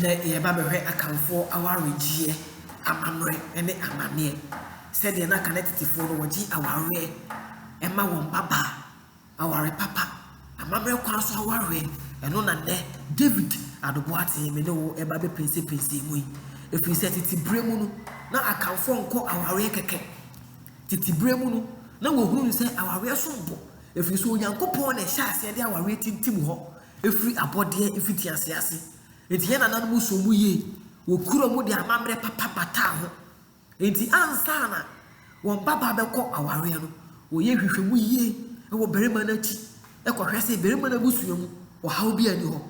Nnɛ yɛreba bɛhwɛ Akanfoɔ awaregyeɛ amammerɛ ne amaneɛ. Sɛdeɛ na Akan atitefoɔ no wɔgye awareɛ ɛma wɔn mmabaa, aware papa, amammerɛ kwan so awareɛ, ɛno na nnɛ David Ado Boateng me ne wo ɛreba bɛpinsepinsee mu yi. Ɛfiri sɛ tete berɛ mu no, na Akanfoɔ nkɔ awareɛ kɛkɛ. Tete berɛ mu no, na wɔhunu sɛ awareɛ som bo, ɛfiri sɛ Onyankopɔn na ɛhyɛ aseɛ de awareɛ tintim hɔ. firi abɔdeɛ mfitiaseɛ ase. Enti yɛn nananom soo mu yie, wɔkuraa mu de amammerɛ papa bataa ho. Enti ansa na wɔn babaa bɛkɔ awareɛ no, wɔyɛ nhwehwɛmu yie wɔ barima no akyi kɔhwɛ sɛ barima no abusua mu ɔhaw biara nni hɔ,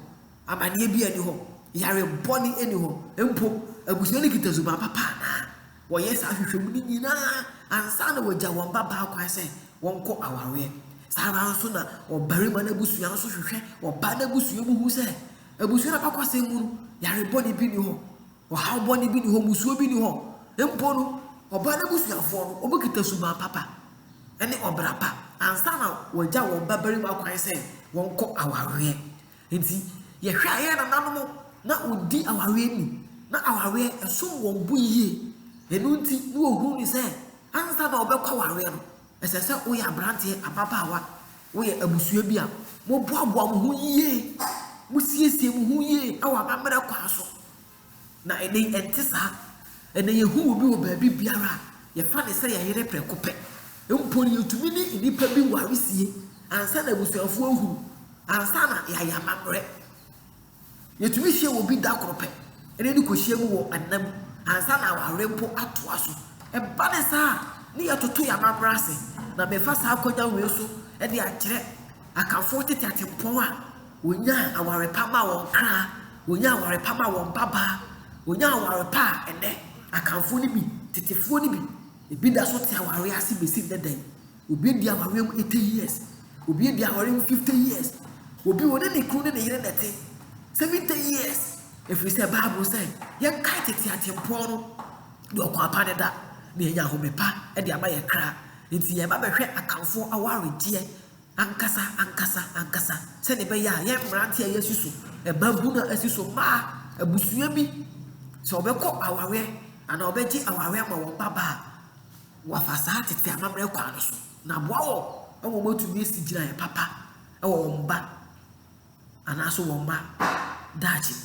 amanneɛ biara nni hɔ, yare bɔne nni hɔ, mpo abusua no kita suban papa anaa. Wɔyɛ saa nhwehwɛmu no nyinaa ansa na wɔagya wɔn mmabaa kwan sɛ wɔnkɔ awareɛ. Saa ara nso na ɔbarima no abusua nso hwehwɛ ɔbaa no abusua mu hu sɛ abusua no abakɔsɛm mu no, yare bɔne bi nni hɔ, ɔhaw bɔne bi nni hɔ, musuo bi nni hɔ. Mpo no, ɔbaa no abusuafoɔ no, wɔbɛkita suban papa ne ɔbra pa ansa na wɔagya wɔn babarima kwan sɛ wɔnkɔ awareɛ. Enti, yɛhwɛ a yɛn nananom na wɔdi awareɛ mu, na awareɛ ɛsom wɔn bo yie. Ɛno nti na wɔhunu no sɛ ansa na wɔbɛkɔ awareɛ no, ɛsɛ sɛ woyɛ aberanteɛ, ababaawa, woyɛ abusua bi a, moboaboa mo ho yie, mosiesie mo ho yie wɔ amammerɛ kwan so. Na ɛnnɛ yi, ɛnte saa. Ɛnnɛ, yehu obi wɔ baabibiara a, yɛfa no sɛ yɛn yere prɛko pɛ. Mpo no, yetumi ne nnipa bi ware sie ansa na abusuafo ahu, ansa na yɛayɛ amammerɛ. Yetumi hyia obi da koro pɛ ne no kohyia mu wɔ nna mu ansa na aware mpo atoa so. Ɛba no saa a, ne yɛtoto yɛn amammerɛ ase, na mefa saa akwannya wei so de akyerɛ Akanfoɔ tete atempɔn a Wɔnyaa aware pa maa wɔn kra, wɔnyaa aware pa maa wɔn babaa, wɔnyaa aware pa a ɛnnɛ Akanfoɔ no bi, tetefoɔ no bi, ebi da so te awareɛ ase bɛsi nnɛ da yi. Obi adi awareɛ mu 80 years, obi adi awareɛ mu 50 years, obi ɔne ne kunu ne ne yere na ɛte 70 years. Ɛfiri sɛ Bible sɛ yɛnkae tete atempɔn no, deɛ ɔkwan pa ne da, na yɛanya ahome pa de ama yɛn kra. Nti yɛba bɛhwɛ Akanfoɔ awaredeɛ. ankasa ankasa ankasa sɛnea ɛbɛyɛ a yɛn mmerante a yɛasi so, mmabunu a asi so, mmaa, abusua bi, sɛ wɔbɛkɔ awareɛ anaa wɔbɛgye awareɛ ama wɔn babaa a, wɔafa saa tete amammerɛ kwan no so na aboa wɔn ma wɔatumi asi gyinaeɛ papa wɔ wɔn ba anaaso wɔn mma daakye mu.